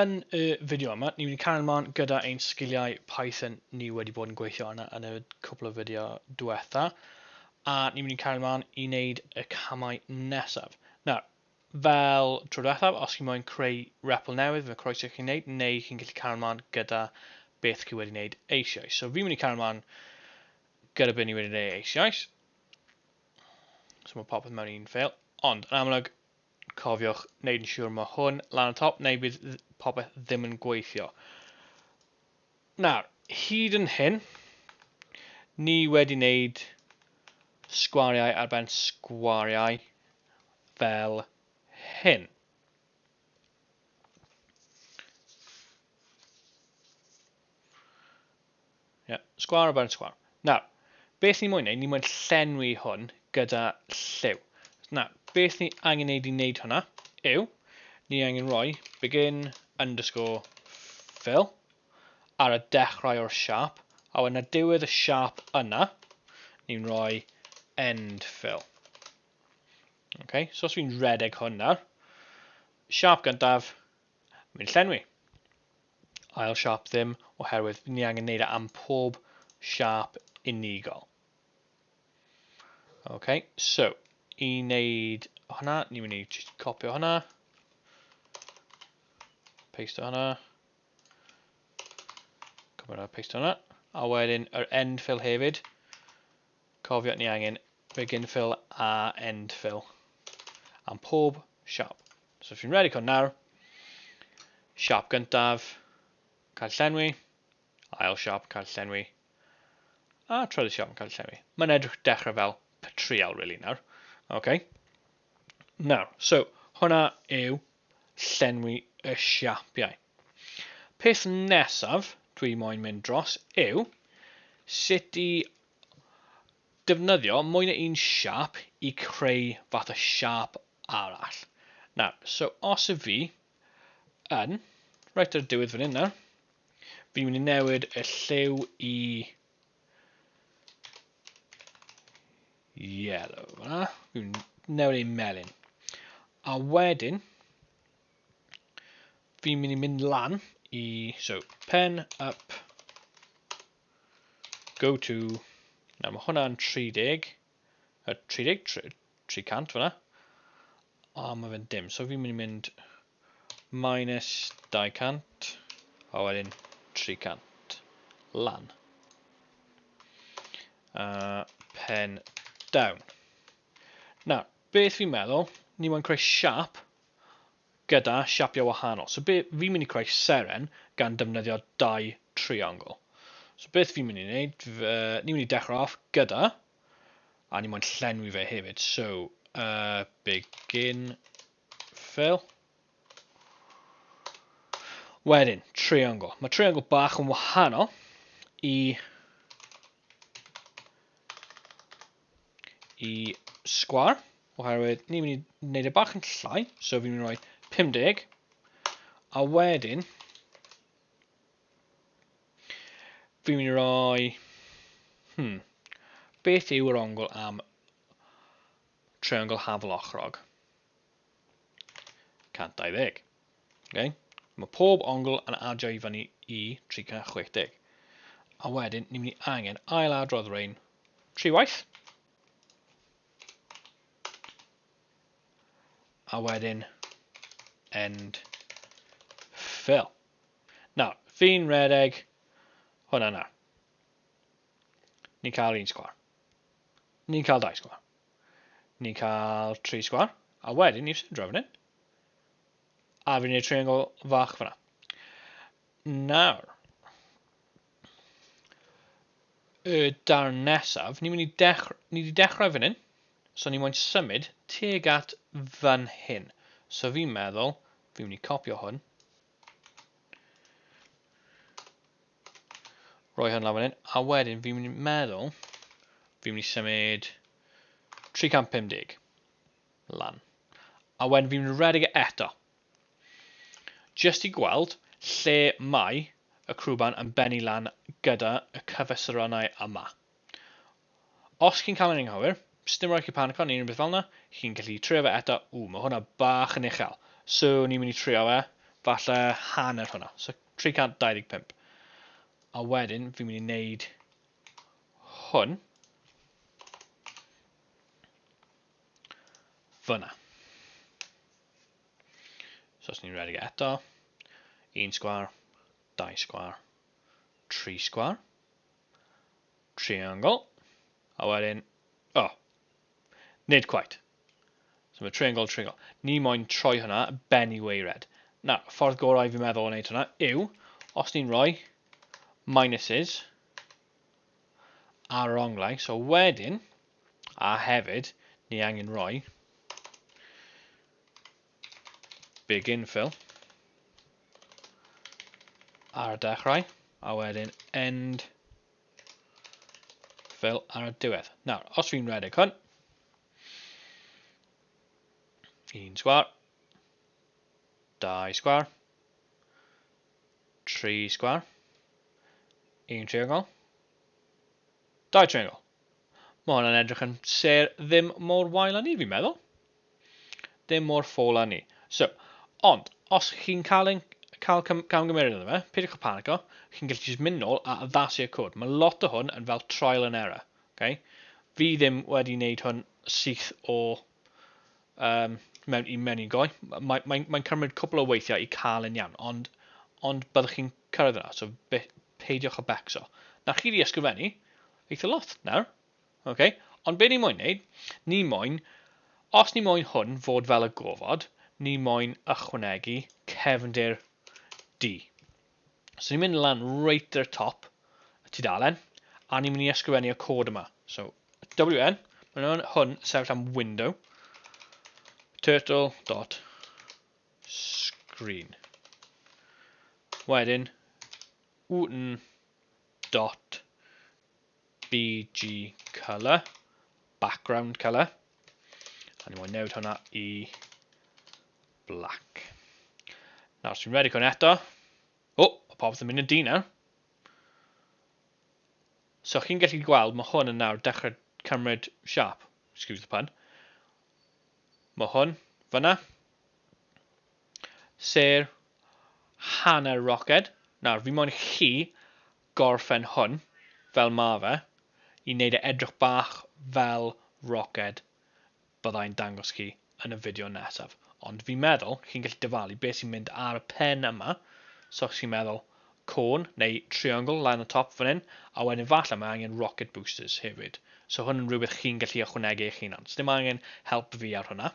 Yn y fideo yma, ni'n mynd i cael ymlaen gyda ein sgiliau Python ni wedi bod yn gweithio arna yn y cwpl o fideo diwetha, a ni'n mynd i cael ymlaen i wneud y camau nesaf. Nawr, fel tro diwethaf, os chi moyn creu repl newydd, fe croeso i chi wneud, neu chi'n gallu cael ymlaen gyda beth chi wedi wneud eisioes. So fi'n mynd i cael ymlaen gyda beth ni wedi wneud eisioes. So mae popeth mewn un ffeil, ond yn amlwg, Cofiwch neud yn siwr ma hwn lan y top neu bydd popeth ddim yn gweithio. Nawr, hyd yn hyn, ni wedi neud sgwariau ar ben sgwariau fel hyn. Ie, sgwâr ar ben sgwâr. Nawr, beth ni moyn wneud, ni moyn llenwi hwn gyda lliw. Nawr, beth ni angen wneud i wneud hwnna yw, ni angen rhoi begin underscore fill ar y dechrau o'r siap, a wedyn ar diwedd y siap yna, ni'n rhoi end fill. Okay, so os fi'n redeg hwn nawr, siap gyntaf, Mae'n llenwi. Ail siâp ddim, oherwydd ni angen neud e am pob siâp unigol. Ok, so, i wneud hwnna, ni'n mynd i just copio hwnna. Paste hwnna. Cymru hwnna, paste hwnna. A wedyn, yr end fill hefyd. Cofio ni angen begin fill a end fill am pob siap. So fi'n redig hwn nawr. Siap gyntaf, cael llenwi, ail siap, cael llenwi, a trydydd siap yn cael llenwi. Mae'n edrych dechrau fel patrial, really, nawr. OK. Nawr, so, hwnna yw llenwi y siapiau. Peth nesaf dwi moyn mynd dros yw sut i defnyddio mwy na un siâp i creu fath o siâp arall. Nawr, so os y fi yn, reit ar y diwedd fan hyn nawr, fi'n mynd i newid y lliw i yellow fanna, fi'n newid ei melin. A wedyn, fi'n mynd i mynd lan i, so, pen up Go to. Na, mae hwnna'n 30. 30, 300 fyna. A mae fe'n dim. So fi'n mynd i mynd minus 200. A wedyn 300. Lan. Uh, pen down. Na, beth fi'n meddwl, ni moyn creu siap gyda siapiau wahanol. So be fi'n mynd i creu seren gan defnyddio dau triongl. So beth fi'n mynd i wneud, ni'n mynd i dechrau off gyda, a ni moyn llenwi fe hefyd, so uh, begin fill. Wedyn, triongl. Mae triongl bach yn wahanol i i sgwar, oherwydd ni'n mynd i wneud e bach yn llai, so fi'n mynd i roi 50, a wedyn, fi'n mynd i roi, hmm, beth yw yr ongl am triongl haflochrog? 120. Okay? Mae pob ongl yn adio i fyny i 360. A wedyn, ni'n mynd i angen ail adrodd rein tri waith. A wedyn, end fill. Nawr, fi'n redeg hwnna nawr. Ni'n cael un sgwar. Ni'n cael dau sgwar. Ni'n cael tri sgwar. A wedyn, ni'n sydro fan hyn. A fi'n gwneud triangle fach fyna. Nawr. Y darn nesaf, ni'n mynd i dechrau, ni wedi dechrau fan hyn, so ni'n mynd i symud teg at fan hyn. So fi'n meddwl, fi'n mynd i copio hwn. Roi hwn lan fan hyn, a wedyn fi'n mynd i meddwl, fi'n mynd i symud 350. lan. A wedyn fi'n mynd i redeg e eto. Jyst i gweld lle mae y crwban yn bennu lan gyda y cyfesuronau yma. Os chi'n cael yn anghywir, sdim rhaid chi panico neu unrhyw beth fel yna, chi'n gallu trio fe eto. Ww, mae hwnna bach yn uchel. So, ni'n mynd i trio fe, falle hanner hwnna. So, 325. A wedyn, fi'n mynd i wneud hwn. Fyna. So os ni'n redig e eto, un sgwar, dau sgwar, tri sgwar, triangle, a wedyn, o, oh, nid quite. So mae triangle, triangle. Ni moyn troi hwnna ben i weired. Na, ffordd gorau fi'n meddwl o wneud hwnna yw, os ni'n rhoi minuses ar yr onglau, so wedyn, A hefyd, ni angen rhoi big infill ar y dechrau, a wedyn end fill ar y diwedd. Nawr, os fi'n redeg hwn, un sgwar, dau sgwar, tri sgwar, un triongol, Dau triangle. Mae hwnna'n edrych yn ser ddim mor wael â ni, fi'n meddwl. Ddim mor ffôl â ni. So, ond, os chi'n cael, ein, cael camgymeriad yna fe, peidiwch y panico, chi'n gallu jyst mynd nôl a addasu'r cod. Mae lot o hwn yn fel trial and error. Okay? Fi ddim wedi wneud hwn syth o um, mewn, i mewn i'n goi. Mae'n mae, mae cymryd cwpl o weithiau i cael yn iawn, ond, ond byddwch chi'n cyrraedd yna, so be, peidiwch o becso. Na chi wedi ysgrifennu eitha lot nawr. Okay? Ond be ni moyn wneud, ni moyn, os ni moyn hwn fod fel y gofod, ni moyn ychwanegu cefndir D. So ni'n mynd lan reit ar y top y tudalen, a ni'n mynd i ysgrifennu y cod yma. So WN, mae'n hwn, hwn sefyll am window, turtle dot screen. Wedyn, UN dot BG colour, background colour. A ni moyn newid hwnna i black. Nawr, sy'n redig hwn eto. O, oh, popeth yn mynd yn dyn nawr. So chi'n gallu gweld ma hwn yn nawr dechrau cymryd siâp, excuse the pun. Ma hwn, fyna. Ser hanner roced. Nawr, fi moyn chi gorffen hwn, fel ma fe, i wneud e edrych bach fel roced. byddai'n dangos chi yn y fideo nesaf, ond fi'n meddwl chi'n gallu dyfalu beth sy'n mynd ar y pen yma, so os chi'n meddwl côn neu triongl lan y top fan hyn, a wedyn falle mae angen rocket boosters hefyd, so hwn yn rhywbeth chi'n gallu ychwanegu eich hunan, so ddim angen help fi ar hwnna.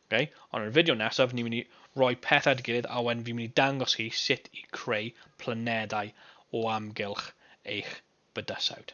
Okay? Ond yn y fideo nesaf, ni'n mynd i roi pethau at ei gilydd a wedyn fi'n mynd i dangos chi sut i creu planedau o amgylch eich bydysawd.